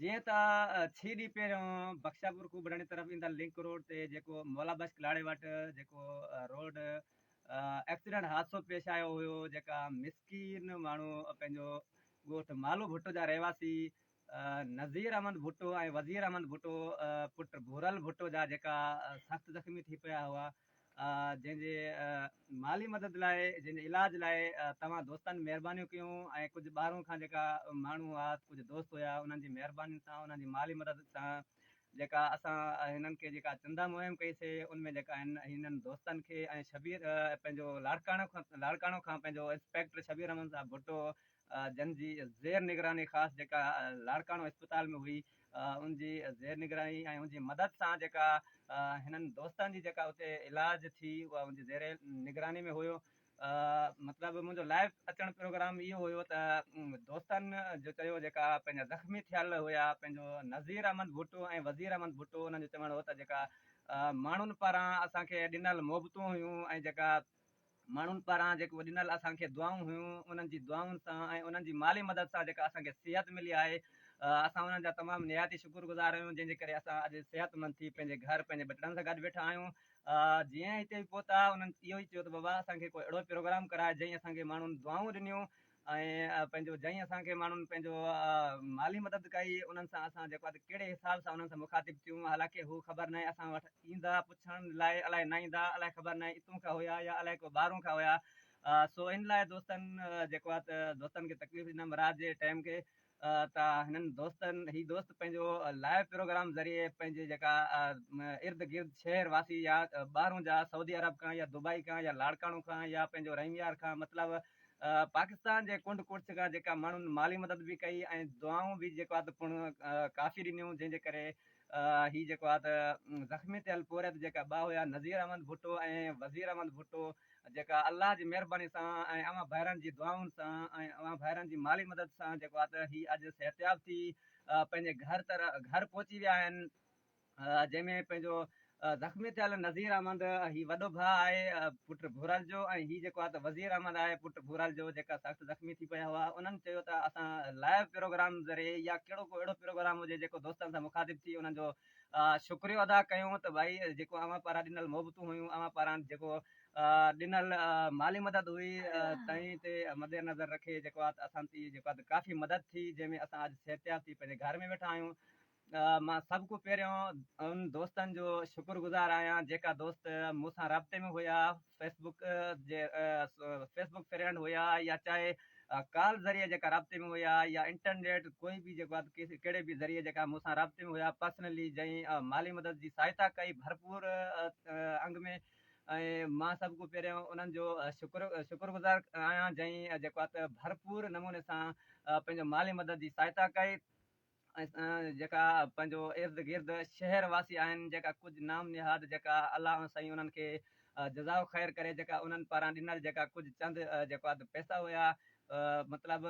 جيئن ته ڇهه ڏينهن پهريون بخشاپور کوبڙاڻي طرف ايندڙ لنڪ روڊ تي جيڪو مولا بخش ڪلاڙي وٽ جيڪو روڊ ايڪسيڊنٽ حادثو پيش آيو هيو جيڪا مسڪين ماڻهو پنهنجو ڳوٺ مالو ڀٽو جا رهواسي نذير احمد ڀٽو ۽ وزير احمد ڀٽو پٽ ڀورل ڀٽو جا جيڪا سخت زخمي ٿي پيا هئا جنهن جي مالي مدد لاء جنهن جي علاج لاء توهان دوستن مهربانيون ڪيون ۽ ڪجهه ٻاهرون کان جيڪا ماڻهو هئا ڪجهه دوست هيا انهن جي مهربانين سان انهن جي مالي مدد سان جيڪا اسان هنن کي جيڪا چندا مهم ڪئي سي ان ۾ جيڪا هن هنن دوستن کي ۽ شبير پنهنجو لاڙڪاڻو لاڙڪاڻو کان پنهنجو انسپيڪٽر شبير احمد صاحب ڀٽو جن جي زير نگراني خاص جيڪا لاڙڪاڻو اسپتال ۾ هئي ان جي زير نگراني ۽ ان جي مدد سان جيڪا هنن دوستن جي جيڪا اتي علاج ٿي اها ان جي زير نگراني ۾ هيو مطلب منهنجو لائيو اچڻ پروگرام اهو هيو ته دوستن جو چيو جيڪا پنهنجا زخمي ٿيل هيا پنهنجو نذير احمد ڀٽو ۽ وزير احمد ڀٽو انهن جو چوڻ هو ته جيڪا ماڻهن پاران اسان کي ڏنل محبتون هيون ۽ جيڪا ماڻهن پاران جيڪو ڏنل اسان کي دعائون هيون انهن جي دعائن سان ۽ انهن جي مالي مدد سان جيڪا اسان کي صحت ملي آهي اسان انهن جا تمام نهايت ئي شڪر گذار آهيون جنهن جي ڪري اسان اڄ صحت مند ٿي پنهنجي گهر پنهنجي ٻچڙن سان گڏ ويٺا آهيون جيئن هتي پهتا انهن اهو ئي چيو ته بابا اسان کي ڪو اهڙو پروگرام ڪراء جئين اسان کي ماڻهن دعائون ڏنيون ۽ پنهنجو جئين اسان کي ماڻهن پنهنجو مالي مدد ڪئي انهن سان اسان جيڪو آهي ڪهڙي حساب سان انهن سان مخاطب ٿيون حالانڪه هو خبر ناهي اسان وٽ ايندا پڇڻ لاء الائي نه ايندا الائي خبر ناهي اتون کان هيا يا الائي ڪو ٻاهرون کان هيا سو ان لاء دوستن جيڪو آهي دوستن کي تڪليف ڏنم رات جي ٽيم کي ته هنن دوستن هي دوست پنهنجو لائيو پروگرام ذريعي پنهنجي جيڪا ارد گرد شهر واسي يا ٻاهرون جا سعودي عرب کان يا دبئي کان يا لاڙڪاڻو کان يا پنهنجو رحيم يار کان مطلب پاڪستان جي ڪنڊ ڪڙڇ کان جيڪا ماڻهن مالي مدد به ڪئي ۽ دعائون به جيڪو آهي ته پڻ ڪافي ڏنيون جنهن جي ڪري هي جيڪو آهي ته زخمي ٿيل پورهيت جيڪا ٻه هيا نظير احمد ڀٽو ۽ وزير احمد ڀٽو جيڪا الله جي مهرباني سان ۽ اوهان ڀائرن جي دعائن سان ۽ اوهان ڀائرن جي مالي مدد سان جيڪو آهي ته هي اڄ صحتياب ٿي پنهنجي گهر گهر پهچي ويا آهن جنهن ۾ پنهنجو زخمي ٿيل نذير احمد هي وڏو ڀاء آهي پٽ ڀورل جو ۽ هي جيڪو آهي ته وزير احمد آهي پٽ ڀورل جو جيڪا سخت زخمي ٿي پيا هئا انهن چيو ته اسان لائيو پروگرام ذريعي يا ڪهڙو ڪو اهڙو پروگرام هجي جيڪو دوستن سان مخاطب ٿي انهن جو شڪريو ادا ڪيون ته ڀائي جيڪو اوهان پاران ڏنل محبتون هيون اوهان پاران جيڪو ڏنل مالي مدد هئي تنهن تي مد نظر رکي جيڪو آهي اسان تي جيڪو آهي ته ڪافي مدد ٿي جنهن ۾ اسان اڄ صحتياب ٿي پنهنجي گهر ۾ ويٺا آهيون مان سڀ کان پهريون انهن دوستن جو شڪر گذار آهيان جيڪا دوست مون سان رابطي ۾ هيا فيس بڪ جي فيس بڪ فرينڊ هيا يا چاهي ڪال ذريعي جيڪا رابطي ۾ هيا يا انٽرنيٽ ڪوئي به جيڪو ڪهڙي به ذريعي جيڪا مون سان رابطي ۾ هيا پرسنلي جئين مالي مدد جي سهائتا ڪئي ڀرپور انگ ۾ مان سڀ کان پهريون انهن جو شڪر شڪر گذار آهيان جئين جيڪو ڀرپور نموني سان پنهنجو مالي مدد جي سهائتا ڪئي جيڪا پنهنجو ارد گرد شهر واسي آهن جيڪا ڪجهه نام نهاد جيڪا الله ۽ سائين انهن کي جزاء خير ڪري جيڪا انهن پاران ڏنل جيڪا ڪجهه چند جيڪو اڌ پئسا هيا مطلب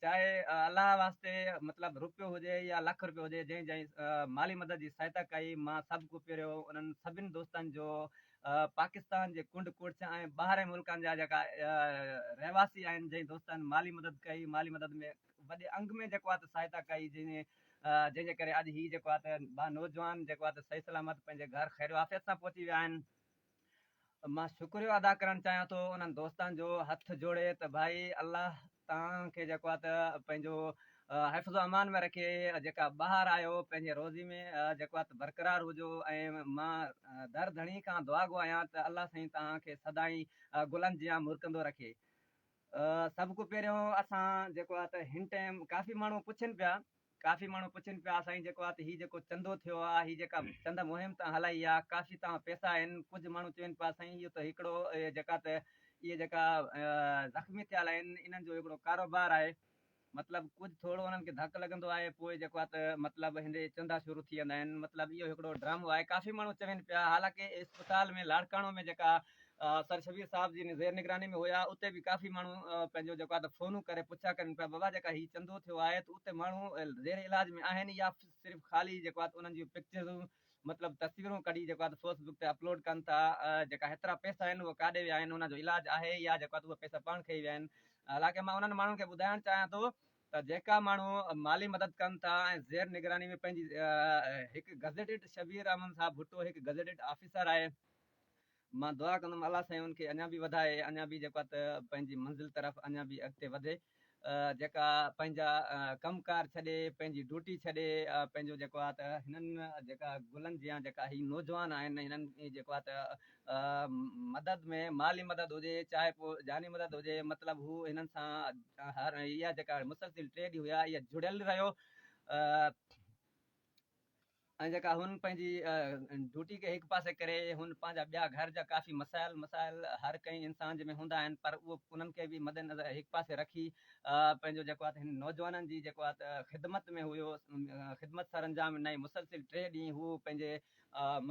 چاهي الله واسطي مطلب روپيو هجي يا لک روپيو هجي جنهن جنهن مالي مدد جي سهائتا ڪئي مان سڀ ڪو پهريو انهن سڀن دوستن جو پاڪستان جي ڪنڊ ڪوٽس ۽ ٻاهرين ملڪن جا جيڪا رهواسي آهن جنهن دوستن مالي مدد ڪئي مالي مدد ۾ وڏي انگ ۾ جيڪو آهي ته سهائتا ڪئي جنهن جنهن جي ڪري اڄ هي جيڪو آهي ته ٻه نوجوان جيڪو آهي ته صحيح سلامت پنهنجي گهر خيرو عافيت سان پهچي ويا آهن مان شڪريو ادا ڪرڻ چاهيان ٿو انهن دوستان جو هٿ جوڙي ته ڀائي الله توهان کي جيڪو آهي ته پنهنجو حفظ و امان ۾ رکي جيڪا ٻاهر آيو پنهنجي روزي ۾ جيڪو آهي ته برقرار هجو ۽ مان در ڌڻي کان دعا گو آهيان ته الله سائين توهان کي سدائين گلن جيان مرڪندو رکي سڀ کان پهريون اسان جيڪو آهي ته هن ٽائيم ڪافي ماڻهو پڇن پيا ڪافي ماڻهو پڇن پيا سائين جيڪو آهي ته هي جيڪو چندو ٿيو آهي هي جيڪا چند مهم توهان هلائي آهي ڪافي توهان پئسا آهن ڪجهه ماڻهو چون پيا سائين اهو ته هڪڙو جيڪا ته اهي جيڪا زخمي ٿيل آهن انهن جو هڪڙو ڪاروبار آهي مطلب ڪجھ ٿورو انهن کي ڌڪ لڳندو آهي پوء جيڪو آهي ته مطلب هندي چندا شروع ٿي ويندا آهن مطلب اهو هڪڙو ڊرامو آهي ڪافي ماڻهو چوين پيا حالانڪه اسپتال ۾ لاڙڪاڻو ۾ جيڪا سر شبير صاحب جي زير نگراني ۾ هيا اتي به ڪافي ماڻهو پنهنجو جيڪو آهي ته فونون ڪري پڇا ڪرين پيا بابا جيڪا هي چندو ٿيو آهي ته اتي ماڻهو زير علاج ۾ آهن يا صرف خالي جيڪو آهي ته انهن جون پڪچرون مطلب تصويرون ڪڍي جيڪو آهي ته فيس بڪ تي اپلوڊ ڪن ٿا جيڪا هيترا پئسا آهن اهي ڪاڏي ويا آهن ان جو علاج آهي يا جيڪو آهي ته اهي پئسا پاڻ کئي ويا آهن حالانڪه مان انهن ماڻهن کي ٻڌائڻ چاهيان ٿو ته جيڪا ماڻهو مالي مدد ڪن ٿا ۽ زير نگراني ۾ پنهنجي هڪ گزيٽيڊ شبير احمد صاحب ڀٽو هڪ گزيٽيڊ آفيسر آهي مان دعا ڪندم الله سائين ان کي اڃا به وڌائي اڃا به جيڪو ته پنهنجي منزل طرف اڃا به اڳتي وڌي جيڪا پنهنجا ڪم ڪار ڇڏي پنهنجي ڊوٽي ڇڏي پنهنجو جيڪو آ ته هنن جيڪا گلن جيان جيڪا هي نوجوان آهن هنن جيڪو آ ته مدد ۾ مالي مدد هجي چاهي پو جاني مدد هجي مطلب هو هنن سان هر اها جيڪا مسلسل ٽي ڏينهن هيا اها جڙيل رهيو ۽ جيڪا هن پنهنجي ڊيوٽي کي هڪ پاسي ڪري هن پنهنجا ٻيا گهر جا ڪافي مسائل مسائل هر ڪنهن انسان جي ۾ هوندا آهن پر اهو انهن کي به مد نظر هڪ پاسي رکي پنهنجو جيڪو آهي هن نوجوانن جي جيڪو آهي خدمت ۾ هيو خدمت سر انجام ڏنائين مسلسل ٽي ڏينهن هو پنهنجي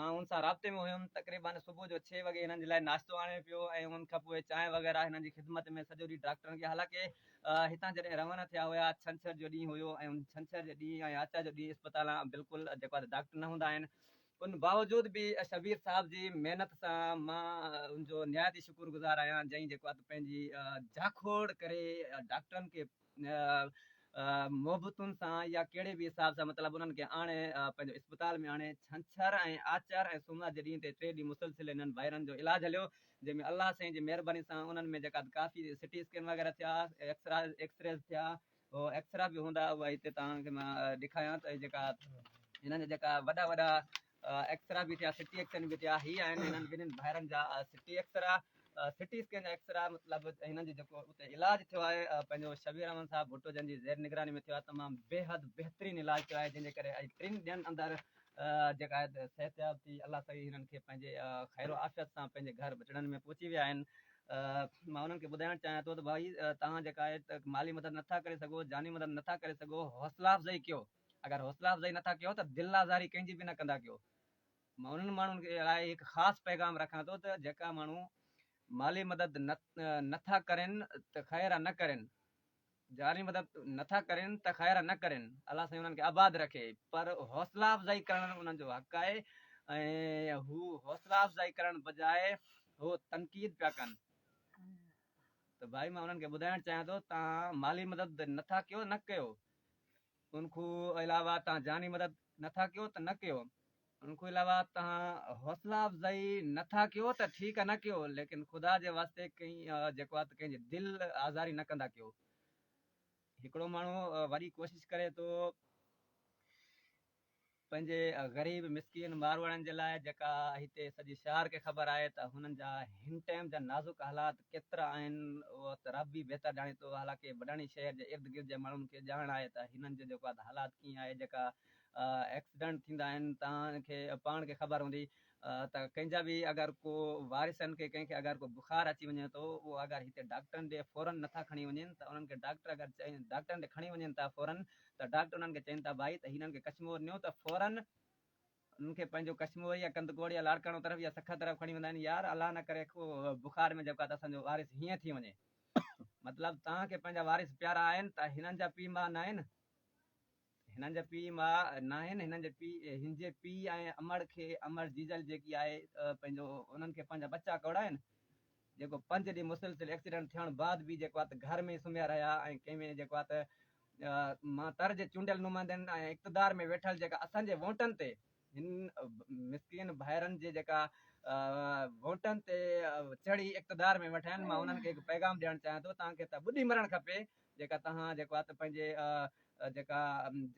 مان هن سان رابطي ۾ هيم تقريبن صبح جو ڇهه وڳي هنن جي لاء ناشتو آڻي پيو ۽ ان کان پوء چانهه وغيره هنن جي خدمت ۾ سڄو ڏينهن ڊاڪٽرن کي حالانڪه هتان جڏهن روانا ٿيا هيا، ڇنڇر جو ڏينهن هيو ۽ ان ڇنڇر جي ڏينهن ۽ آچار جو ڏينهن اسپتالان بلڪل جيڪو آهي ته ڊاڪٽر نه هوندا آهن. ان باوجود به شبير صاحب جي محنت سان مان ان جو نهايت ئي شڪر گذار آهيان جنهن جيڪو آهي ته پنهنجي جاکوڙ ڪري ڊاڪٽرن کي محبتن سان يا ڪهڙي به حساب سان مطلب انهن کي آڻي پنهنجو اسپتال ۾ آڻي ڇنڇر ۽ آچر ۽ سومرا جي ڏينهن تي ٽي ڏينهن مسلسل انهن ڀائرن جو علاج هليو جنهن ۾ الله سائين جي مهرباني سان انهن ۾ جيڪا به ڪافي سٽي اسڪين وغيره ٿيا، ايڪس ريز ٿيا، ايڪس را به هوندا اهي هتي توهان کي مان ڏيکاريان ته جيڪا هنن جا جيڪا وڏا وڏا ايڪس را به ٿيا سٽي ايڪسن به ٿيا هي آهن هنن ٻنهن ڀائرن جا CT X ray CT scan جا ايڪس را مطلب هنن جو جيڪو اتي علاج ٿيو آهي پنهنجو شبير احمد صاحب ڀٽو جن جي زير نگراني ۾ ٿيو آهي تمام بيحد بهترين علاج ٿيو آهي جنهن جي ڪري اڄ ٽن ڏينهن اندر جيڪا آهي ته صحتياب ٿي الله سائين هنن کي پنهنجي خير و عافيت سان پنهنجي گهر بچڙن ۾ پهچي ويا آهن مان انهن کي ٻڌائڻ چاهيان ٿو ته ڀائي توهان جيڪا آهي ته مالي مدد نٿا ڪري سگهو جاني مدد نٿا ڪري سگهو حوصلا افزائي ڪيو اگر حوصلا افزائي نٿا ڪيو ته دل آزاري ڪنهن جي به نه ڪندا ڪيو مان انهن ماڻهن کي لاء هڪ خاص پيغام رکان ٿو ته جيڪا ماڻهو مالي مدد نٿا ڪرين ته خير نه ڪرين جاري مدد نه ٿا ڪرين ته خير نه ڪرين الله سائين انهن کي آباد رکي پر حوصلا افزائي ڪرڻ انهن جو حق آهي ۽ هو حوصلا افزائي ڪرڻ بجاء هو تنقيد پيا ڪن ته ڀائي مان انهن کي ٻڌائڻ چاهيان ٿو تان مالي مدد نه ٿا ڪيو نه ڪيو ان کان علاوه تهان جاني مدد نه ٿا ڪيو ته نه ڪيو، ان کان علاوه تهان حوصلا افزائي نه ٿا ڪيو ته ٺيڪ آ نه ڪيو ليڪن خدا جي واسطي ڪئين جيڪو آ ته ڪنهن جي دل آزاري نه ڪندا ڪيو. هڪڙو ماڻهو وڏي ڪوشش ڪري ٿو پنهنجي غريب مسڪين ماروئڙن جي لاء جيڪا هتي سڄي شهر کي خبر آهي ته هنن جا هن ٽيم جا نازڪ حالات ڪيترا آهن اهو ته رب ئي بهتر ڄاڻي ٿو حالانڪه وڏاڻي شهر جي ارد گرد جي ماڻهن کي ڄاڻ آهي ته هنن جي جيڪو آهي ته حالات ڪيئن آهي جيڪا ايڪسيڊنٽ ٿيندا آهن توهان کي پاڻ کي خبر هوندي ته ڪنهن جا به اگر ڪو وارثن کي ڪنهن کي اگر ڪو بخار اچي وڃي ٿو اهو اگر هتي ڊاڪٽرن ڏي فورن نٿا کڻي وڃن ته انهن کي ڊاڪٽر اگر چئن ڊاڪٽرن ڏي کڻي وڃن ٿا فورن ته ڊاڪٽر انهن کي چئن ٿا ڀائي ته هنن کي ڪشمور نيو ته فورن انهن کي پنهنجو ڪشمور يا ڪندڪوڙ يا لاڙڪاڻو طرف يا سکر طرف کڻي ويندا آهن يار الله نه ڪري ڪو بخار ۾ جيڪو ته اسان جو وارث هيئن ٿي وڃي مطلب توهان کي پنهنجا وارث پيارا آهن ته هنن جا پيء ماء نه آهن هنن جا پيء ماء ناهن، هنن جا پيء هنجي پيء ۽ امڙ کي امڙ جيجل جيڪي آهي پنهنجو انهن کي پنهنجا ٻچا ڪوڙا آهن جيڪو پنج ڏينهن مسلسل ايڪسيڊنٽ ٿيڻ بعد به جيڪو آهي ته گهر ۾ ئي سمهيا رهيا ۽ ڪنهن ۾ جيڪو آهي ته مان تر جي چونڊيل نمائندن ۽ اقتدار ۾ ويٺل جيڪا اسان جي وونٽن تي هن مسڪين ڀائرن جي جيڪا وونٽن تي چڙهي اقتدار ۾ وٺا آهن مان انهن کي هڪ پيغام ڏيڻ چاهيان ٿو تان کي ته ٻڏي مرڻ کپي جيڪا توهان جيڪو آهي ته پنهنجي جيڪا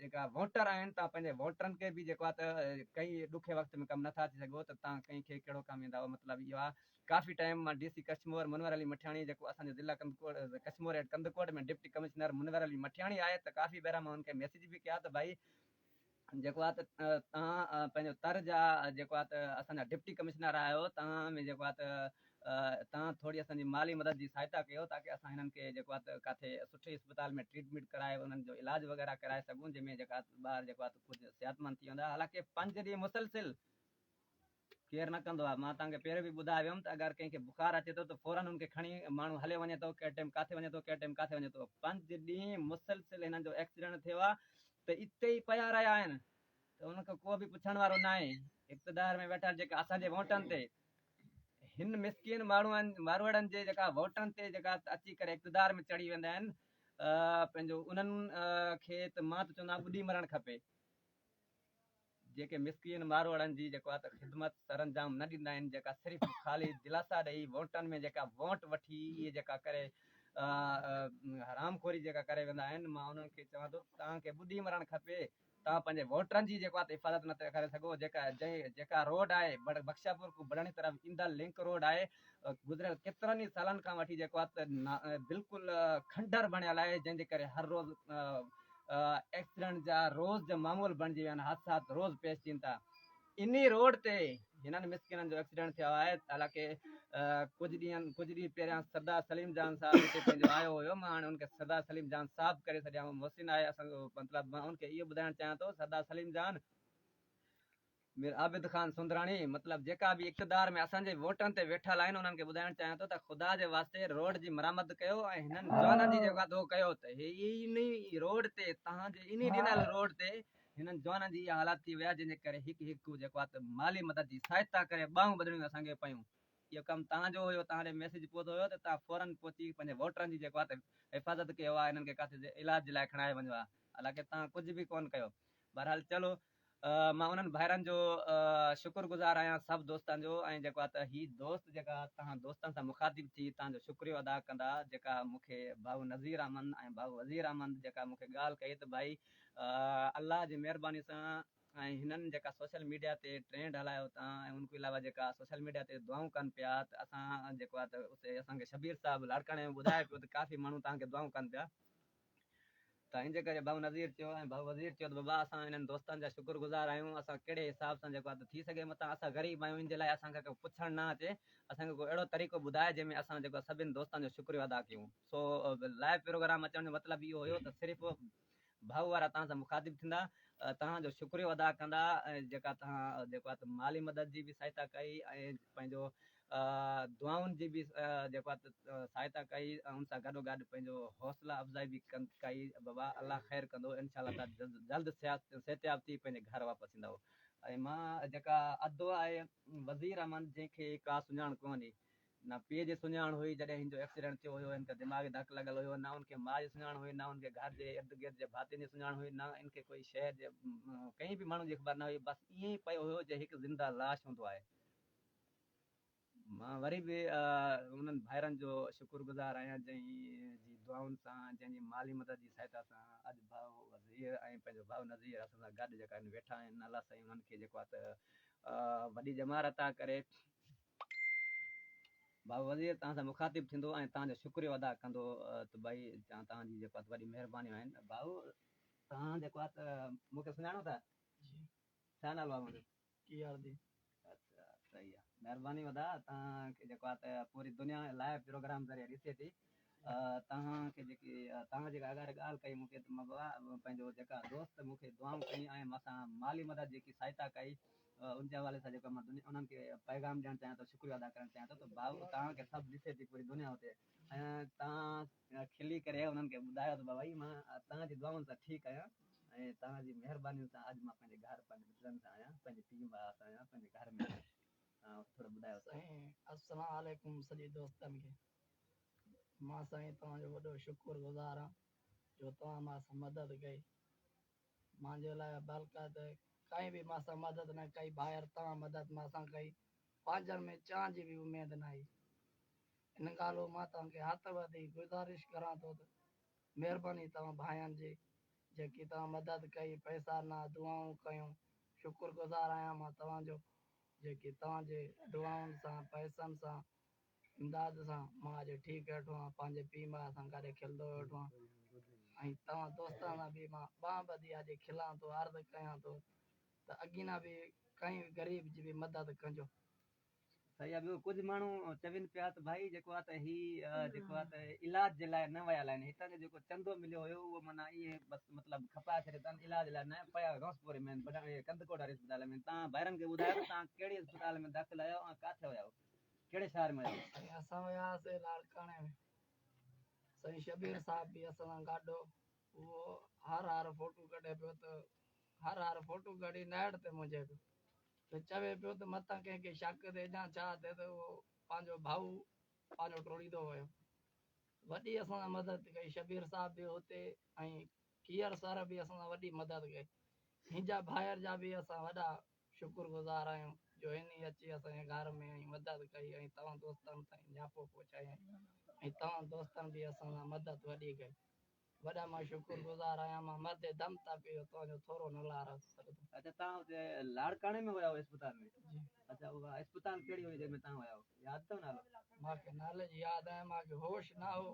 جيڪا ووٽر آهن توهان پنهنجي ووٽرن کي به جيڪو آهي ته ڪئين ڏکي وقت ۾ ڪم نٿا اچي سگهو ته توهان ڪئين کي ڪهڙو ڪم ايندا هئا مطلب اهو آهي ڪافي ٽائيم مان ڊي سي ڪشمور منور علي مٺياڻي جيڪو اسان جو ضلع Kandhkot Kashmore at Kandhkot ۾ deputy commissioner Munawar Ali Mithiani آهي ته ڪافي ڀيرا مان هن کي ميسيج به ڪيا ته ڀائي جيڪو آهي ته توهان پنهنجو تر جا جيڪو آهي ته اسان جا ڊپٽي ڪمشنر آهيو توهان ۾ جيڪو آهي ته توهان ٿوري اسان جي مالي مدد جي سهائتا ڪيو تاڪه اسان هنن کي جيڪو آهي ته ڪاٿي سٺي اسپتال ۾ ٽريٽميٽ ڪرائي انهن جو علاج وغيره ڪرائي سگهون جنهن ۾ جيڪا ٻار جيڪو آهي ته ڪجهه صحت مند ٿي ويندا حالانڪه پنج ڏينهن مسلسل ڪير نه ڪندو آهي مان توهان کي پهريون به ٻڌائي ويم ته اگر ڪنهن کي بخار اچي ٿو ته فورن هن کي کڻي ماڻهو هليو وڃي ٿو ڪهڙي ٽيم ڪاٿي وڃي ٿو ڪهڙي ٽيم ڪاٿي وڃي ٿو پنج ڏينهن مسلسل هنن جو ايڪسيڊنٽ ٿيو آهي ته اتي ئي پيا رهيا آهن ته هنن کي ڪو به پڇڻ وارو ناهي اقتدار ۾ ويٺل جيڪا اسان جي ووٽن تي هن مسڪين ماڻهن ماروئڙن جي جيڪا ووٽن تي جيڪا اچي ڪري اقتدار ۾ چڙهي ويندا آهن پنهنجو انهن کي ته مان ته چوندا ٻڏي مرڻ کپي جيڪي مسڪين ماروئڙن جي جيڪو آ ته خدمت سرانجام نه ڏيندا آهن جيڪا صرف خالي دلاسا ڏئي وونٽن ۾ جيڪا وونٽ وٺي اهي جيڪا ڪري حرام خوري جيڪا ڪري ويندا آهن مان انهن کي چوان ٿو توهان کي ٻڏي مرڻ کپي توهان پنهنجي ووٽرن جي جيڪو آ ته حفاظت نه ٿي ڪري سگهو جيڪا جيڪا روڊ آهي بخشاپور کان بڙاڻي طرف ايندڙ لنڪ روڊ آهي گذريل ڪيترن ئي سالن کان وٺي جيڪو آهي ته بلڪل کنڊر بڻيل آهي جنهن جي ڪري هر روز ايڪسيڊنٽ جا روز جا معمول بڻجي ويا آهن حادثات روز پيش اچين ٿا انهي روڊ تي هنن مسڪينن جو ايڪسيڊنٽ ٿيو آهي حالانڪه ڪجهه ڏينهن ڪجهه ڏينهن پهريان سردار سليم جان صاحب هتي پنهنجو آيو هيو مان هاڻي ان کي سردار سليم جان صاحب ڪري ڇڏيان محسن آهي اسان جو مطلب مان ان کي اهو ٻڌائڻ چاهيان ٿو سردار سليم جان مير عابد خان سوندراڻي، مطلب جيڪا به اقتدار ۾ اسان جي ووٽن تي ويٺل آهن انهن کي ٻڌائڻ چاهيان ٿو ته خدا جي واسطي روڊ جي مرمت ڪيو ۽ هنن جوانن جي جي واڌو ڪيو ته هي انهي روڊ تي تهان جي انهي ڏنل روڊ تي هنن جوانن جي اها حالات ٿي وئي آهي جنهن جي ڪري هڪ هڪ جيڪو آهي ته مالي مدد جي سهائتا ڪري ٻانهون ٻڌڻيون اسان کي پيون اهو ڪم تهان جو هيو تهان ڏي ميسيج پهتو هيو ته تهان فورن پهچي پنهنجي ووٽرن جي جيڪو آهي ته حفاظت ڪيو آهي هنن کي ڪاٿي جي علاج جي لاء کڻائي وڃو آهي حالانڪه تهان ڪجهه به ڪون ڪيو بهرحال چلو مان انهن ڀائرن جو شڪر گذار آهيان سڀ دوستن جو ۽ جيڪو آ ته هي دوست جيڪا توهان دوستن سان مخاطب ٿي توهان جو شڪريو ادا ڪندا جيڪا مون کي ڀائو نظير احمد ۽ ڀائو وزير احمد جيڪا مون کي ڳالهه ڪئي ته ڀائي الله جي مهرباني سان ۽ هنن جيڪا سوشل ميڊيا تي ٽرينڊ هلايو اتان ۽ ان کان علاوه جيڪا سوشل ميڊيا تي دعائون ڪن پيا ته اسان جيڪو آ ته اسي اسان کي شبير صاحب لاڙڪاڻي ۾ ٻڌائي پيو ته ڪافي ماڻهو توهان کي دعائون ڪن پيا ته ان جي ڪري ڀائو نظير چيو ۽ ڀائو وزير چيو ته بابا اسان انهن دوستن جا شڪر گذار آهيون اسان ڪهڙي حساب سان جيڪو اڌ ٿي سگهي متان اسان غريب آهيون ان جي لاء اسان کي ڪو پڇڻ نه اچي اسان کي ڪو اهڙو طريقو ٻڌاء جنهن ۾ اسان جيڪو سڀن دوستن جو شڪريو ادا ڪيون سو لائيو پروگرام اچڻ جو مطلب اهو هيو ته صرف ڀائو وارا تهان سان مخاطب ٿيندا تهان جو شڪريو ادا ڪندا ۽ جيڪا تهان جيڪو مالي مدد جي به سهائتا ڪئي ۽ پنهنجو دعائن جي به جيڪو آهي سهائتا ڪئي ۽ ان سان گڏو گڏ پنهنجو حوصلا افزائي به ڪئي بابا الله خير ڪندو انشاء الله تون جلد صحتياب ٿي پنهنجي گهر واپس ايندو ۽ مان جيڪا ادو آهي وزير احمد جنهن کي ڪا سڃاڻ ڪونهي نه پيء جي سڃاڻ هئي جڏهن هن جو ايڪسيڊنٽ ٿيو هيو هن کي دماغي ڌڪ لڳل هيو نه ان کي ماء جي سڃاڻ هئي نه ان کي گهر جي ارد گرد جي ڀاتين جي سڃاڻ هئي نه ان کي ڪوئي شهر جي ڪنهن به ماڻهو جي خبر نه هئي بس ائين ئي پيو هيو جئين هڪ زنده لاش هوندو آهي مان وري به انهن ڀائرن جو شڪر گذار آهيان جنهن جي دعائن سان جنهن جي مالي مدد جي سهائتا سان اڄ ڀاء وزير ۽ پنهنجو ڀاء نظير اسان سان گڏ جيڪا هن ويٺا آهن الله سائين انهن کي جيڪو آهي ته وڏي ڄمار عطا ڪري ڀاء وزير توهان سان مخاطب ٿيندو ۽ توهان جو شڪريو ادا ڪندو ته ڀائي توهان جي جيڪو آهي وڏي مهربانيون آهن ڀاء توهان جيڪو آهي ته مون کي سڃاڻو ٿا ڇا نالو آهي منهنجو ڪي آر دي. اچھا صحيح آ مھرباني ودا تان کي جيڪو آ ته پوري دنيا لائيو پروگرام ذريعي ڏسي ٿي تان کي جيڪي تان جيڪا اگھاري ڳالھ ڪئي مون کي ته مبو آ پنھنجو جيڪا دوست مون کي دعائون ڪيون ۽ ماسان مالي مدد جيڪي سھائتا ڪئي ان جي حوالي سان جيڪو مان دنيا انھن کي پيغام ڏيڻ چاھيان ٿو شڪريو ادا ڪرڻ چاھيان ٿو ته ڀائو تان کي سڀ ڏسي ٿي پوري دنيا اتي ۽ تان هن کلي ڪري انهن کي ٻڌايو ته بابا جي مان توهان جي دعائن سان ٺيڪ آهيان ۽ توهان جي مهربانين سان اڄ مان پنهنجي گهر پنهنجي مٽرن سان آهيان پنهنجي پيء ماء سان آهيان پنهنجي گهر ۾ آهيان ۽ ٿورو ٻڌايو ته. سائين السلام عليڪم سڄي دوستن کي مان سائين توهان جو وڏو شڪر گذار آهيان جو توهان مان سان مدد ڪئي مانجي لاء بلڪه ته ڪنهن به مان سان مدد نه ڪئي ڀائر توهان مدد مان سان ڪئي پنهنجن ۾ چانهه جي به اميد نه هئي ان ڳالهه مان توهان کي هٿ وڌي گذارش ڪران ٿو ته مهرباني توهان ڀائين جي جيڪي توهان مدد ڪئي پئسا نه دعائون ڪيون شڪر گذار آهيان مان توهان جو جيڪي توهان جي دعائن سان پئسن سان امداد سان مان اڄ ٺيڪ ويٺو آهيان پنهنجي پي ماء سان گڏ کلندو ويٺو آهيان ۽ توهان دوستن سان به مان ٻانهن ٻڌي اڄ کلان ٿو عرض ڪيان ٿو ته اڳينا به ڪنهن غريب جي به مدد ڪجو. سائين اهو ڪجهه ماڻهو چون پيا ته ڀائي جيڪو آهي ته هي جيڪو آهي ته علاج جي لاء نه ويل آهن هتان جو جيڪو چندو مليو هيو اهو معنيٰ ائين بس مطلب کپائي ڇڏيو اٿن علاج لاء نه پيا غوث پوري ۾ ڪنڌڪوٽ واري اسپتال ۾ تان ڀائرن کي ٻڌايو ته تان ڪهڙي اسپتال ۾ داخل آهيو ۽ ڪاٿي ويا آهيو ڪهڙي شهر ۾ ويا آهيو. اسان ويا هئاسي لاڙڪاڻي ۾ سائين شبير صاحب به اسان سان گڏ هو. اهو هر هر فوٽو ڪڍي پيو ته هر هر فوٽو ڪڍي نيٽ تي منجهي پيو ته چوي پيو ته متان ڪنهن کي شڪ ٿئي يا ڇا ٿئي ته اهو پنهنجو ڀائو پنهنجو ٽوڙيندو ويو وڏي اسان سان مدد ڪئي شبير صاحب به هتي ۽ کير سر به اسان سان وڏي مدد ڪئي هنجا ڀائر جا به اسان وڏا شڪر گذار آهيون جو هن ئي اچي اسان جي گهر ۾ ۽ مدد ڪئي ۽ توهان دوستن تائين نياپو پهچايائين ۽ توهان دوستن به اسان سان مدد وڏي ڪئي وڏا مان شڪر گذار آهيان مان مردي دم تان پي جو توهان جو ٿورو نه لارا سگهندم. اچا تان اتي لاڙڪاڻي ۾ هيا اسپتال ۾ جي اچا اها اسپتال ڪهڙي هئي جنهن ۾ تان هيا ياد اٿو نالو. مانکي نالي جي ياد ناهي مانکي هوش نه هو.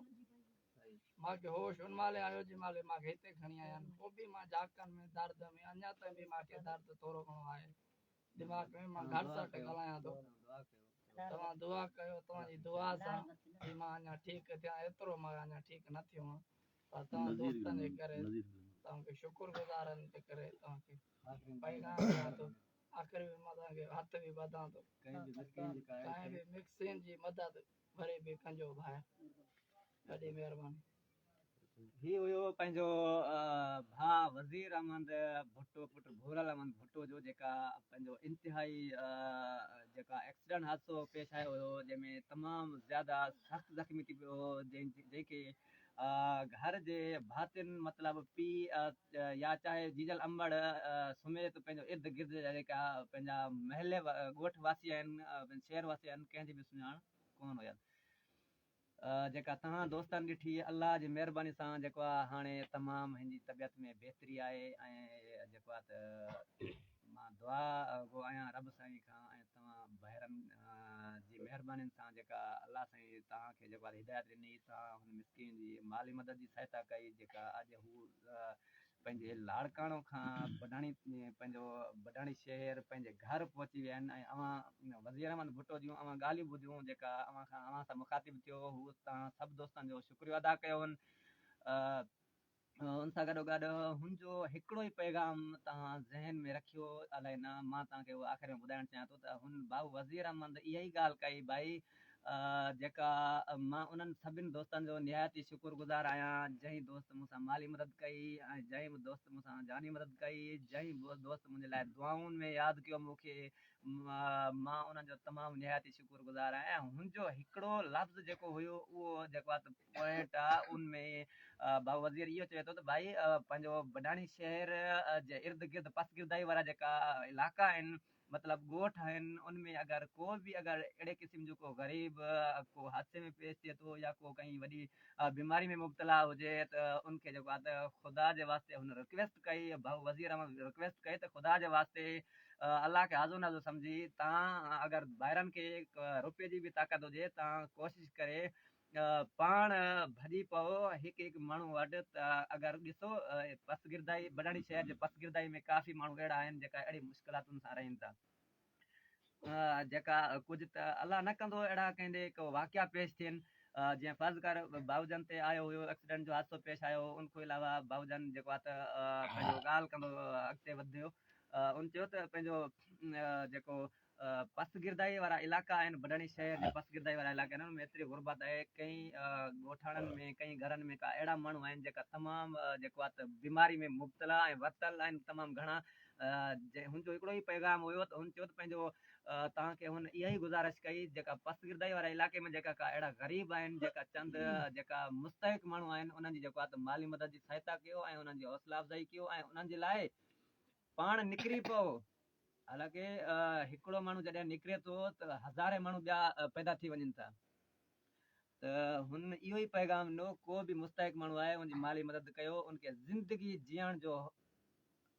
مان کي هوش ان مهل ئي آيو جنهن مهل مان کي هتي کڻي آيائين. پوء به مان جاکن ۾ درد ۾، اڃا تائين به مان کي درد ٿورو گهڻو آهي دماغ ۾. مان گهٽ سهٽ ڳالهايان ٿو. توهان دعا ڪيو. توهان جي دعا سان ئي مان اڃا ٺيڪ ٿيان. ايترو مان اڃا ٺيڪ نه ٿيو هان پر توهان دوستن جي ڪري، توهان کي شڪر گذارن جي ڪري توهان کي پيغام ڏيان ٿو. آخر ۾ مان توهان کي هٿ به ٻڌان ٿو. ڪنهن به مڪسين جي مدد. ڀري پيڪن جو ڀاء ڏاڍي مهرباني. هي هيو پنهنجو ڀاء وزير احمد ڀٽو پٽ ڀورل احمد ڀٽو جو جيڪا پنهنجو انتهائي جيڪا ايڪسيڊنٽ حادثو پيش آيو هيو جنهن ۾ تمام زياده سخت زخمي ٿي پيو هو جنهن کي گهر جي ڀاتين مطلب پيء يا چاهي جيجل امڙ سميت پنهنجو ارد گرد جا جيڪا پنهنجا محلي ڳوٺ واسي آهن شهر واسي آهن ڪنهن جي به سڃاڻ ڪونه هيس جيڪا تنها دوستن ڏٺي الله جي مهرباني سان جيڪو آ هاڻي تمام هن جي طبيعت ۾ بهتري آهي ۽ جيڪو آ ته مان دعا گو آهيان رب سائين کان ۽ توهان ڀائرن جي مهربانين سان جيڪا الله سائين توهان کي جيڪو آهي هدايت ڏني توهان هن مسڪين جي مالي مدد جي سهائتا ڪئي جيڪا اڄ هو پنهنجي لاڙڪاڻو کان بڊاڻي پنهنجو بڊاڻي شهر پنهنجي گهر پهچي ويا آهن ۽ اوهان وزير احمد ڀٽو جون اوهان ڳالهيون ٻڌيون جيڪا اوهان کان اوهان سان مخاطب ٿيو هو توهان سڀ دوستن جو شڪريو ادا ڪيو هن ان سان گڏو گڏ هن جو هڪڙو ئي پيغام توهان ذهن ۾ رکيو الائي نه مان توهان کي اهو آخر ۾ ٻڌائڻ چاهيان ٿو ته هن بائو وزير احمد اها ئي ڳالهه ڪئي بائي جيڪا مان انهن سڀن دوستن جو نهايت ئي شڪر گذار آهيان جنهن دوست مون سان مالي مدد ڪئي ۽ جنهن به دوست مون سان جاني مدد ڪئي جنهن به دوست منهنجي لاء دعائن ۾ ياد ڪيو مون کي مان انهن جو تمام نهايت ئي شڪر گذار آهيان ۽ هن جو هڪڙو لفظ جيڪو هيو اهو جيڪو پوائنٽ آ ان ۾ بابا وزير اهو چوي ٿو ته ڀائي پنهنجو بڊاڻي شهر جي ارد گرد پسگردائي وارا جيڪا علائقا آهن مطلب ڳوٺ آهن ان ۾ اگر ڪو به اگر اهڙي قسم جو ڪو غريب ڪو حادثي ۾ پيش ٿئي ٿو يا ڪو ڪئين وڏي بيماري ۾ مبتلا هجي ته ان کي جيڪو آ ته خدا جي واسطي هن رڪويسٽ ڪئي بابا وزير احمد رڪويسٽ ڪئي ته خدا جي واسطي الله کي آزو نازو سمجهي تان اگر ڀائرن کي روپي جي به طاقت هجي تان ڪوشش ڪري پاڻ ڀڄي پئو هڪ هڪ ماڻهو وٽ ته اگر ڏسو پسگردائي بڊاڻي شهر جي پسگردائي ۾ ڪافي ماڻهو اهڙا آهن جيڪا اهڙي مشڪلاتن سان رهن ٿا جيڪا ڪجهه ته الله نه ڪندو اهڙا ڪنهن ڏي ڪو واقعا پيش ٿين جيئن فرض ڪر بائو جان تي آيو هيو ايڪسيڊنٽ جو حادثو پيش آيو ان کان علاوه بائو جان جيڪو آهي ته پنهنجو ڳالهه ڪندو اڳتي وڌيو ان چيو ته پنهنجو جيڪو پس گردائيء وارا علائقا آهن، بڊاڻي شهر جي پس گردائيء وارا علائقا آهن، انهن ۾ ايتري غربت آهي، ڪئين ڳوٺاڻن ۾ ڪئين گهرن ۾ ڪا اهڙا ماڻهو آهن جيڪا تمام جيڪو آهي ته بيماري ۾ مبتلا ۽ ورتل آهن تمام گهڻا، جنهن هن جو هڪڙو ئي پيغام هيو ته هن چيو ته پنهنجو توهان کي هن اها ئي گذارش ڪئي جيڪا پس گردائيء وارا علائقي ۾ جيڪا ڪا اهڙا غريب آهن جيڪا چند جيڪا مستحق ماڻهو آهن انهن جي جيڪو آهي ته مالي مدد جي سهائتا ڪيو ۽ انهن جي حوصلا افزائي ڪيو ۽ انهن جي لاء پاڻ نڪري پئو. حالانڪه هڪڙو ماڻهو جڏهن نڪري ٿو ته هزارين ماڻهو ٻيا پيدا ٿي وڃن ٿا ته هن اهو ئي پيغام ڏنو ڪو به مستحق ماڻهو آهي ان جي مالي مدد ڪيو ان کي زندگي جيئڻ جو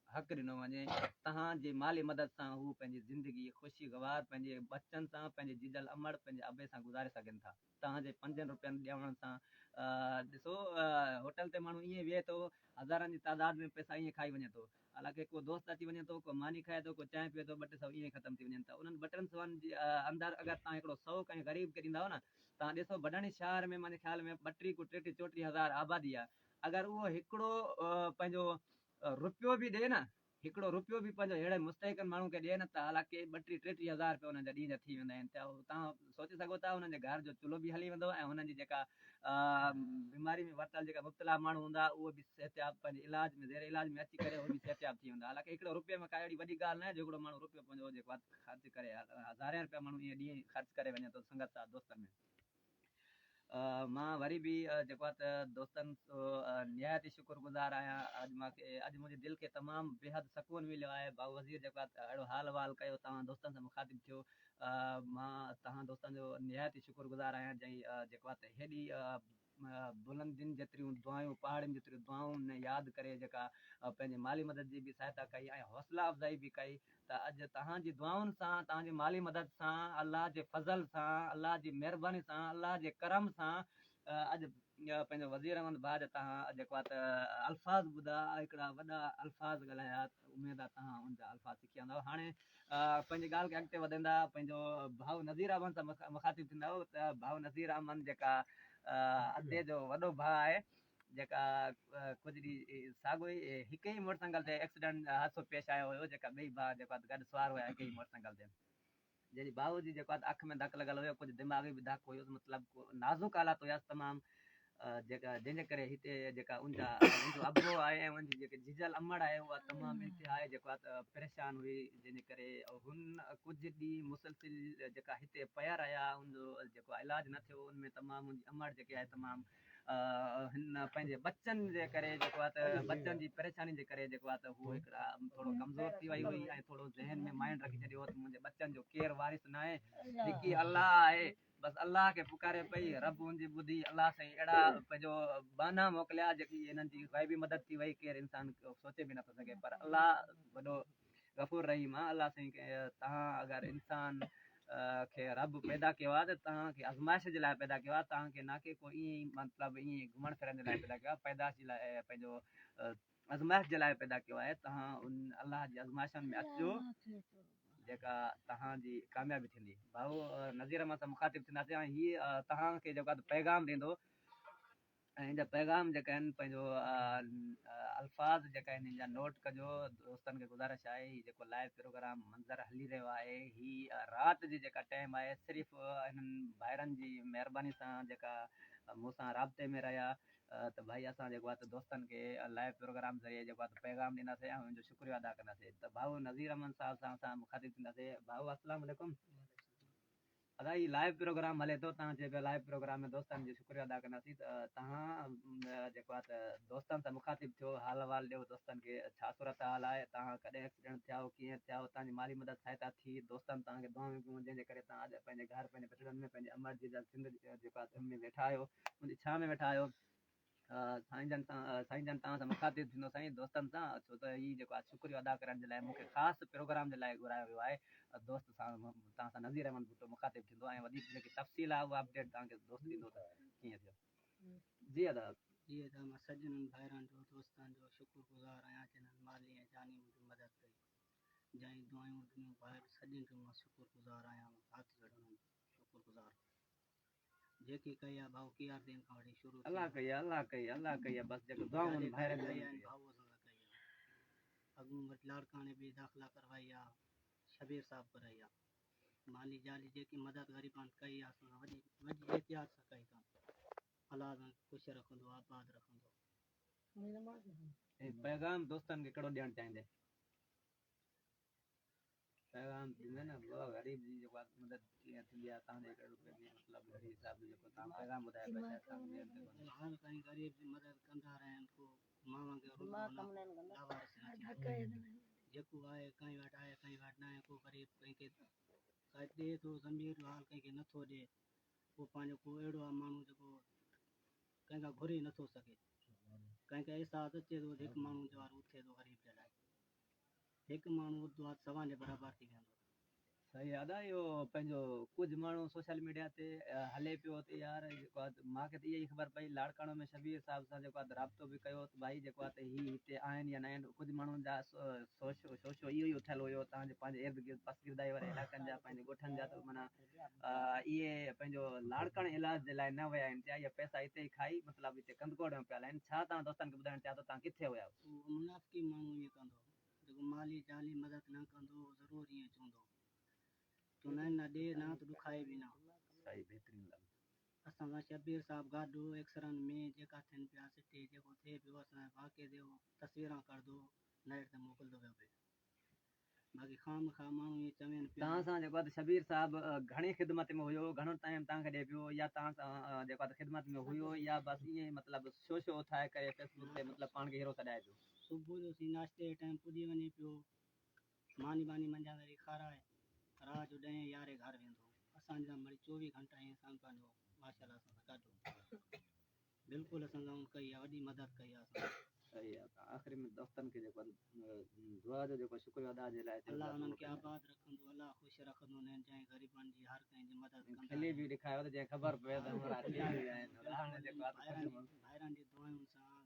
حق ڏنو وڃي تهان جي مالي مدد سان هو پنهنجي زندگي خوشي گوار پنهنجي ٻچن سان پنهنجي جيجل امڙ پنهنجي ابي سان گذاري سگهن ٿا توهان جي پنجن روپين ڏيڻ سان ڏسو هوٽل تي ماڻهو ائين ويهي ٿو، هزارن جي تعداد ۾ پئسا ائين کائي وڃي ٿو. حالانڪه ڪو دوست اچي وڃي ٿو، ڪو ماني کائي ٿو، ڪو چانهه پيئي ٿو، ٻه ٽي سو ائين ئي ختم ٿي وڃن ٿا. انهن ٻه ٽن سوئن جي اندر اگر توهان هڪڙو سئو ڪنهن غريب کي ڏيندائو نه، توهان ڏسو ڀٽاڻي شهر ۾ مانجي خيال ۾ ٻٽيهه ڪو ٽيٽيهه چوٽيهه هزار آبادي آهي، اگر اهو هڪڙو پنهنجو روپيو به ڏي نه، هڪڙو رپيو به پنهنجو اهڙن مستحقن ماڻهن کي ڏي نه ته الا ڪي ٻٽيهه ٽيٽيهه هزار رپيا انهن جا ڏينهن جا ٿي ويندا آهن ته توهان سوچي سگهو ٿا انهن جي گهر جو چلهو به هلي ويندو ۽ انهن جي جيڪا بيماري ۾ ورتل جيڪا مبتلا ماڻهو هوندا اهي به صحتياب پنهنجي علاج ۾ زير علاج ۾ اچي ڪري اهي به صحتياب ٿي ويندا الا ڪي هڪڙو رپيو ۾ ڪا اهڙي وڏي ڳالهه ناهي جو هڪڙو ماڻهو رپيو پنهنجو جيڪو خرچ ڪري هزارين رپيا ماڻهو ايئن ڏينهن خرچ ڪري وڃي ٿو سنگت ساٿ دوستن ۾ مان وري به جيڪو آهي ته دوستن نهايت ئي شڪر گذار آهيان اڄ مان کي اڄ منهنجي دل کي تمام بيحد سڪون مليو آهي بابو وزير جيڪو آهي ته اهڙو حال احوال ڪيو توهان دوستن سان مخاطب ٿيو مان توهان دوستن جو نهايت ئي شڪر گذار آهيان جنهن جيڪو آهي ته هيڏي بلندين جيتريون دعايون پهاڙين جيتريون دعائون نه ياد ڪري جيڪا پنهنجي مالي مدد جي به سهائتا ڪئي ۽ حوصلا افزائي به ڪئي ته اڄ توهان جي دعائن سان، توهان جي مالي مدد سان، الله جي فضل سان، الله جي مهرباني سان، الله جي ڪرم سان اڄ پنهنجو وزير احمد ڀاء جا توهان جيڪو آ ته الفاظ ٻڌا، هڪڙا وڏا الفاظ ڳالهايا، اميد آ توهان ان جا الفاظ سکيا هوندؤ. هاڻي پنهنجي ڳالهه کي اڳتي وڌندا پنهنجو ڀاء نذير احمد سان مخاطب ٿيندؤ ته ڀاء نذير احمد جيڪا ادي جو وڏو ڀاء آهي جيڪا ڪجهه ڏينهن ساڳيو ئي هڪ ئي موٽرسائيڪل تي ايڪسيڊنٽ حادثو پيش آيو هيو جيڪا ٻئي ڀاء جيڪا گڏ سوار هيا هڪ ئي موٽرسائيڪل تي جنهن جي ڀاء جي جيڪا اک ۾ ڌڪ لڳل هيو ڪجهه دماغي به ڌڪ هيس مطلب نازڪ حالات هيس تمام جيڪا جنهن جي ڪري هتي جيڪا ان جا ان جو ابو آهي ۽ ان جي جيڪي جيجل امڙ آهي اها تمام انتهائي جيڪا پريشان هئي جنهن جي ڪري هن ڪجهه ڏينهن مسلسل جيڪا هتي پيا رهيا ان جو جيڪو علاج نه ٿيو ان ۾ تمام ان جي امڙ جيڪي آهي تمام هن پنهنجي ٻچن جي ڪري جيڪو آهي ته ٻچن جي پريشاني جي ڪري جيڪو آهي ته هوء هڪڙا ٿورو ڪمزور ٿي وئي هئي ۽ ٿورو ذهن ۾ مائنڊ رکي ڇڏيو هو ته منهنجي ٻچن جو ڪير وارث ناهي هڪي الله آهي بس الله کي پڪاري پئي رب هن جي ٻڌي الله سائين اهڙا پنهنجو ٻانها موڪليا جيڪي هنن جي غيبي مدد ٿي وئي ڪير انسان سوچي به نٿو سگهي پر الله وڏو غفور رحيم آ الله سائين کي تهان اگر انسان کي رب پيدا ڪيو آ ته تهان کي ازمائش جي لاء پيدا ڪيو آ تهان کي نا ڪي ڪو ايئن مطلب ايئن گهمڻ ڦرڻ جي لاء پيدا ڪيو آ پيدائش جي لاء پنهنجو ازمائش جي لاء پيدا ڪيو آهي تهان ان الله جي ازمائشن ۾ اچجو جيڪا تهان جي ڪاميابي ٿيندي ڀائو نذير احمد سان مخاطب ٿينداسين هي تهان کي جيڪو آ پيغام ڏيندو هن جا پيغام جيڪا آهن پنهنجو الفاظ جيڪا آهن هن جا نوٽ ڪجو دوستن کي گذارش آهي هي جيڪو لائيو پروگرام منظر هلي رهيو آهي هي رات جي جيڪا ٽيم آهي صرف هنن ڀائرن جي مهرباني سان جيڪا مون سان رابطي ۾ رهيا ته ڀائي اسان جيڪو آهي دوستن کي لائيو پروگرام ذريعي جيڪو آهي پيغام ڏينداسين ۽ هن جو شڪريو ادا ڪنداسين ته ڀائو نذير احمد صاحب سان اسان مخاطب ٿينداسين ڀائو السلام عليڪم ادا هي لائيو پروگرام هلي ٿو تهان چئي پيا لائيو پروگرام ۾ دوستان جو شڪريو ادا ڪنداسين ته تهان جيڪو آهي ته دوستان سان مخاطب ٿيو حال احوال ڏيو دوستان کي ڇا صورت حال آهي تهان ڪڏهن ايڪسيڊنٽ ٿيائو ڪيئن ٿيائو تهان جي مالي مدد سهائتا ٿي دوستان تهان کي دعائون ڪيون جنهن جي ڪري تهان اڄ پنهنجي گهر پنهنجي بڇڙن ۾ پنهنجي امڙ جي جا سنڌ جيڪو آهي ته ان ۾ ويٺا آهيو ان جي ڇانء ۾ ويٺا آهيو سائين جان سائين جان توهان سان مخاطب ٿيندو سائين دوستن سان ڇو ته هي جيڪو آج شڪريو ادا ڪرڻ جي لاء مون کي خاص پروگرام جي لاء گهرايو ويو آهي دوست سان توهان سان نذير احمد ڀٽو مخاطب ٿيندو ۽ وڌيڪ جيڪي تفصيل آهي اها اپڊيٽ توهان کي دوست ڏيندو ته ڪيئن ٿيو جي ادا جي ادا مان سڄڻن ڀائرن جو دوستن جو شڪر گذار آهيان جنھن مالي ۽ جاني منھنجي مدد ڪئي جنھن دعائون ڏنيون ڀائر سڄڻن جو مان شڪر گذار آهيان مان هٿ جوڙي انھن جو شڪر گذار آهيان. جيڪي ڪيا ڀائو ڪيار دين کان وٺي شروع ٿي الله ڪيا الله ڪيا الله ڪيا بس جيڪو دعائون ڀائرن جي ڪيا ڀائو اسان سان ڪيا اڳون وٽ لاڙڪاڻي به داخلا ڪروايا شبير صاحب ڪرايا ماني جالي جيڪي مدد غريبان ڪيا اسان سان وڏي وڏي احتياط سان ڪئي ڪم الله سان خوش رکندو آباد رکندو اي پيغام دوستن کي ڪهڙو ڏيڻ چاهيندي پيغام ڏنو نه بابا غريب جي جيڪو مدد ڪيئن ٿيندي آهي تان جي ڪري روپين جي مطلب گهڙي حساب جو جيڪو تان پيغام ٻڌايو پيا شايد تان ٻين تي ڪونهي هر ڪنهن غريب جي مدد ڪندا رهن ڪو ماڻهن کي رڳو هن لاوارث نه ٿيڻ ڏيو جيڪو آهي ڪنهن وٽ آهي ڪنهن وٽ ناهي ڪو غريب ڪنهن کي ڪجهه ڏي ٿو ضمير جو حال ڪنهن کي نه ٿو ڏي ڪو پنهنجو ڪو اهڙو آهي ماڻهو جيڪو ڪنهن کان گهري نه ٿو سگهي ڪنهن کي احساس اچي ٿو هڪ ماڻهو جوارو اٿي ٿو غريب جي لاء هڪ ماڻهو اردو هٿ سوان جي برابر ٿي ويندو. سائين ادا اهو پنهنجو ڪجهه ماڻهو سوشل ميڊيا تي هلي پيو ته يار جيڪو آ مان کي ته اها ئي خبر پئي لاڙڪاڻو ۾ شبير صاحب سان جيڪو آ رابطو به ڪيو ته ڀائي جيڪو آ ته هي هتي آهن يا نه آهن ڪجهه ماڻهن جا سوشو شوشو اهو ئي اٿيل هيو تان جو پنهنجي ارد گرد پسگردائي واري علائقن جا پنهنجي ڳوٺن جا ته معنيٰ اهي پنهنجو لاڙڪاڻي علاج جي لاء نه ويا آهن چيا اهي پئسا هتي ئي کائي مطلب هتي ڪنڌڪوٽ ۾ پيل آهن ڇا توهان دوستن کي ٻڌائڻ چاهيو ته توهان ڪٿي ويا هئو منافقي ماڻهو ائين ڪندو جيڪو مالي جاني مدد نه ڪندو اهو ضرور ائين چوندو. چونائين نه ڏي نه ته ڏکائي به نه. سائين بهترين لڳ. اسان سان شبير صاحب گاڏو ايڪسرن ۾ جيڪا ٿين پيا سٽي جيڪو ٿئي پيو اسان جي واقعي تي اهو تصويران ڪڙدو نيٽ تي موڪلدو ويو پئي باقي خامخا ماڻهو ائين چوين پيا. تان سان جيڪو آهي ته شبير صاحب گهڻي خدمت ۾ هيو گهڻو ٽائيم تان کي ڏئي پيو يا تان سان جيڪو آهي ته خدمت ۾ هيو يا بس ائين مطلب شو شو اٿائي ڪري فيسبوڪ تي مطلب پاڻ کي هيرو سڏائي پيو. صبح جو سين ناشتي جي ٽائيم پڄي وڃي پيو. ماني ٻاني منجهان ذري کارائي رات جو ڏهين يارهين گهر ويندو. اسان جي سامهون چوويهه گهنٽا ائين سان پنهنجو ماشاء الله سان ڪاٽيو. بلڪل اسان سان ان ڪئي آهي وڏي مدد ڪئي آهي اسان جي. صحيح آ ته آخر ۾ دوستن کي جيڪو دعا جو جيڪو شڪريو ادا جي لاء الله انهن کي آباد رکندو الله خوش رکندو نين جائين غريبن جي هر ڪنهن جي مدد ڪندا کلي به ڏيکايو ته جئين خبر پوي ته ڀائرن جي دعائن سان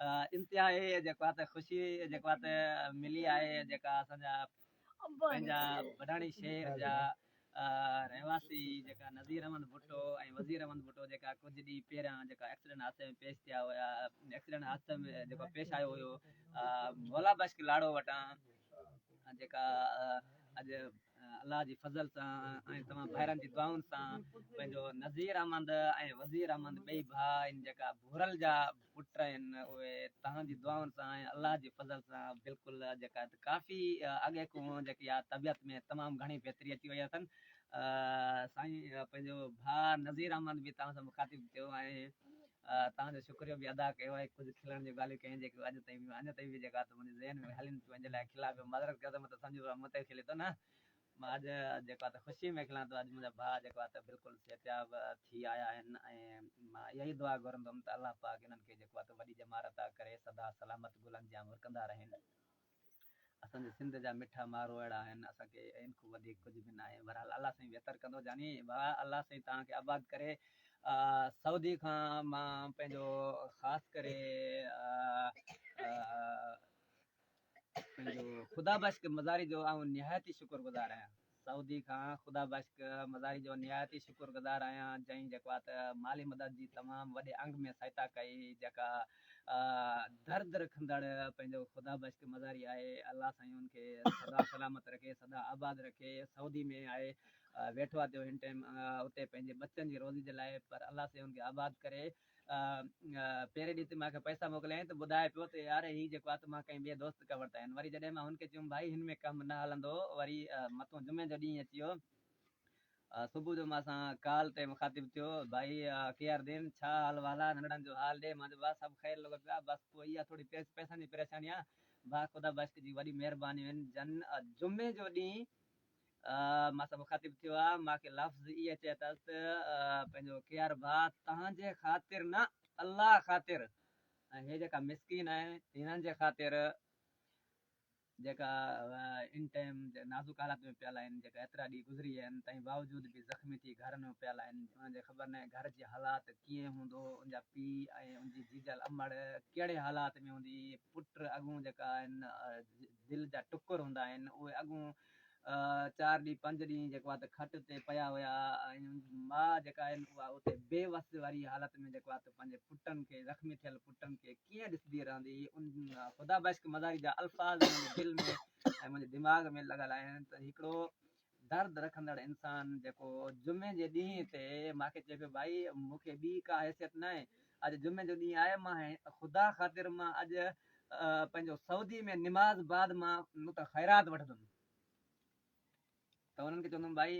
انتهائي جيڪو آهي ته خوشي جيڪو آهي ته ملي آهي جيڪا اسان جا پنهنجا بڊاڻي شهر جا رهواسي جيڪا نظير احمد ڀٽو ۽ وزير احمد ڀٽو جيڪا ڪجهه ڏينهن پهريان جيڪا ايڪسيڊنٽ حادثي ۾ پيش ٿيا هيا ايڪسيڊنٽ حادثي ۾ جيڪو پيش آيو هيو مولا بخش لاڙو وٽان جيڪا اڄ الله جي فضل سان ۽ توهان ڀائرن جي دعائن سان پنهنجو نذير احمد ۽ وزير احمد ٻئي ڀاء آهن جيڪا ڀورل جا پٽ آهن اهي توهان جي دعائن سان ۽ الله جي فضل سان بلڪل جيڪا ڪافي اڳي کون جيڪي آ طبيعت ۾ تمام گهڻي بهتري اچي وئي اٿن سائين پنهنجو ڀاء نذير احمد به توهان سان مخاطب ٿيو ۽ توهان جو شڪريو به ادا ڪيو آهي ڪجهه کلڻ جون ڳالهيون ڪيون جيڪي اڄ تائين به اڃ تائين به جيڪي آ منهنجي ذهن ۾ هلين پيون ان جي لاء کلان پيو معذرت ڪيو ته مون ته سمجهيو ته مون تي کلي ٿو نه مان اڄ جيڪو آ ته خوشي ۾ کلان ٿو اڄ منهنجا ڀاء جيڪو آ ته بلڪل صحتياب ٿي آيا آهن ۽ مان اها ئي دعا گهرندم ته الله پاڪ انهن کي جيڪو آ ته وڏي ڄمار عطا ڪري سدا سلامت گلن جيان مرڪندا رهين. اسان جي سنڌ جا مٺا مارو اهڙا آهن اسان کي ان کون وڌيڪ ڪجهه به ناهي بهرحال الله سائين بهتر ڪندو جاني ڀاء الله سائين توهان کي آباد ڪري سعودي کان مان پنهنجو خاص ڪري پنهنجو خدا بخش مزاري جو آئون نهايت ئي شڪر گذار آهيان سعودي کان خدا بخش مزاري جو نهايت ئي شڪر گذار آهيان جنهن جڪوات مالي مدد جي تمام وڏي انگ ۾ سهتا ڪئي جيڪا درد رکندڙ پنهنجو خدا بخش مزاري آهي الله سائين ان کي سدا سلامت رکي سدا آباد رکي سعودي ۾ آهي ويٺو آهي تيو هن ٽيم اتي پنهنجي ٻچن جي روزي جي لاء پر الله سائين ان کي آباد ڪري. پهرين ڏينهن تي مان کي پئسا موڪليائين ته ٻڌائي پيو ته يار هي جيڪو آ ته مان ڪنهن ٻئي دوست کان ورتا آهن وري جڏهن مان هن کي چيم ڀائي هن ۾ ڪم نه هلندو وري مٿون جمعي جو ڏينهن اچي ويو صبح جو مان سان ڪال تي مخاطب ٿيو ڀائي ڪي آر دين ڇا حال وحال آ ننڍڙن جو حال ڏي مان چيو ڀاء سڀ خير لڳو پيو آ بس پوء اها ٿوري پئسن جي پريشاني آ ڀاء خدا بخش جي وڏي مهربانيون آهن جن جمعي جو ڏينهن مان سان مخاطب ٿيو آ، مان کي لفظ اي چئي تس ته پنهنجو ڪيار ڀاء تهان جي خاطر نه الله خاطر ۽ هي جيڪا مسڪين آهن هنن جي خاطر جيڪا ان ٽائيم نازڪ حالات ۾ پيل آهن جيڪا ايترا ڏينهن گذري ويا آهن تنهن باوجود به زخمي ٿي گهرن ۾ پيل آهن انهن جي خبر ناهي گهر جي حالات ڪيئن هوندو ان جا پي ۽ ان جي جيجل امڙ ڪهڙي حالات ۾ هوندي پٽ اڳون جيڪا آهن دل جا ٽڪر هوندا آهن اهي اڳون چار ڏينهن پنج ڏينهن جيڪو آهي ته کٽ تي پيا هيا ۽ ماء جيڪا آهي اها اتي بي وس واري حالت ۾ جيڪو آهي ته پنهنجي پٽن کي زخمي ٿيل پٽن کي ڪيئن ڏسندي رهندي ان خدا بخش مزاري جا الفاظ منهنجي دل ۾ ۽ منهنجي دماغ ۾ لڳل آهن ته هڪڙو درد رکندڙ انسان جيڪو جمعي جي ڏينهن تي مان کي چئي پيو ڀائي مون کي ٻي ڪا حيثيت ناهي اڄ جمعي جو ڏينهن آهي مان خدا خاطر مان اڄ پنهنجو سعودي ۾ نماز بعد مان مون تان خيرات وٺندم ته انهن کي چوندم ڀائي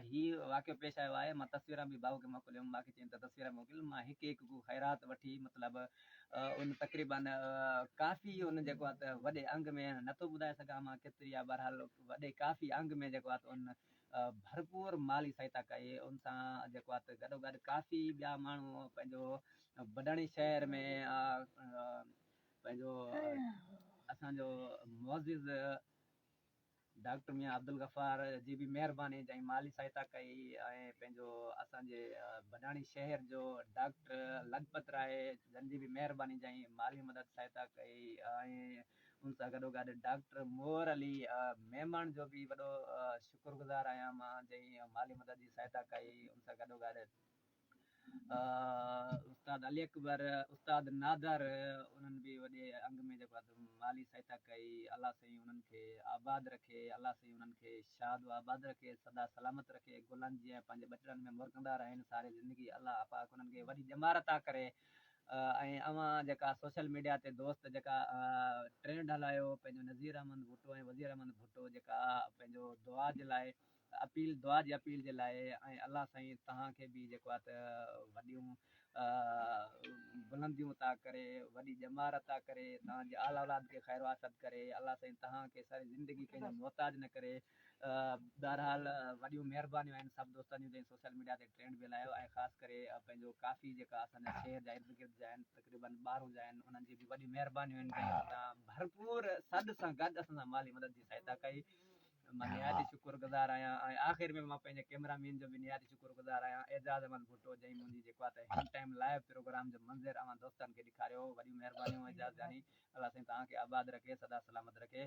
هي واقعو پيش آيو آهي مان تصويران به بابو کي موڪلي هيم مان کي چين ته تصويران موڪل مان هڪ هڪ ڪو خيرات وٺي مطلب ان تقريبا ڪافي ان جيڪو آهي ته وڏي انگ ۾ نٿو ٻڌائي سگهان مان ڪيتري آهي بهرحال وڏي ڪافي انگ ۾ جيڪو آهي ته ان ڀرپور مالي سهائتا ڪئي، ان سان جيڪو آهي ته گڏوگڏ ڪافي ٻيا ماڻهو پنهنجو بڊاڻي شهر ۾ پنهنجو اسان جو معزز ڊاڪٽر ميان عبدالغفار جي به مهرباني جئين مالي سهائتا ڪئي ۽ پنهنجو اسان جي بڊاڻي شهر جو ڊاڪٽر لکپت راء جن جي به مهرباني جئين مالي مدد سهائتا ڪئي ۽ ان سان گڏوگڏ ڊاڪٽر مور علي ميمڻ جو به وڏو شڪر گذار آهيان مان جنهن مالي مدد جي سهائتا ڪئي ان سان گڏوگڏ استاد علي اڪبر استاد نادر انهن به وڏي انگ ۾ جيڪو مالي سهائتا ڪئي الله سائين انهن کي آباد رکي الله سائين انهن کي شاد و آباد رکي سدا سلامت رکي گلن جيان پنهنجي ٻٽڙن ۾ مرڪندا رهن ساري زندگي الله پاڪ انهن کي وڏي ڄمار عطا ڪري ۽ اوهان جيڪا سوشل ميڊيا تي دوست جيڪا ٽرينڊ هلايو پنهنجو نظير احمد ڀٽو ۽ وزير احمد ڀٽو جيڪا پنهنجو دعا جي لاء اپيل دعا جي اپيل جي لاء ۽ الله سائين توهان کي به جيڪو آهي وڏيون بلنديون عطا ڪري وڏي ڄمار عطا ڪري توهان جي آل اولاد کي خير واسط ڪري الله سائين توهان کي ساري زندگي ڪنهن جو محتاج نه ڪري بهرحال وڏيون مهربانيون آهن سڀ دوستن جون جن سوشل ميڊيا تي ٽرينڊ به هلايو ۽ خاص ڪري پنهنجو ڪافي جيڪا اسان جا شهر جا ارد گرد جا آهن تقريبا ٻارهون جا آهن انهن جي به وڏيون مهربانيون آهن جن اسان سان ڀرپور سڏ سان گڏ اسان سان مالي مدد جي سهائتا ڪئي مان نهايت ئي شڪر گذار آهيان ۽ آخر ۾ مان پنهنجي ڪيمرا مين جو به نهايت شڪر گذار آهيان اعجاز احمد ڀٽو جنهن منهنجي جيڪو آهي سا هن ٽائيم لائيو پروگرام جو منظر اوهان دوستن کي ڏيکاريو وڏيون مهربانيون اعجاز جاني الله سائين توهان کي آباد رکي سدا سلامت رکي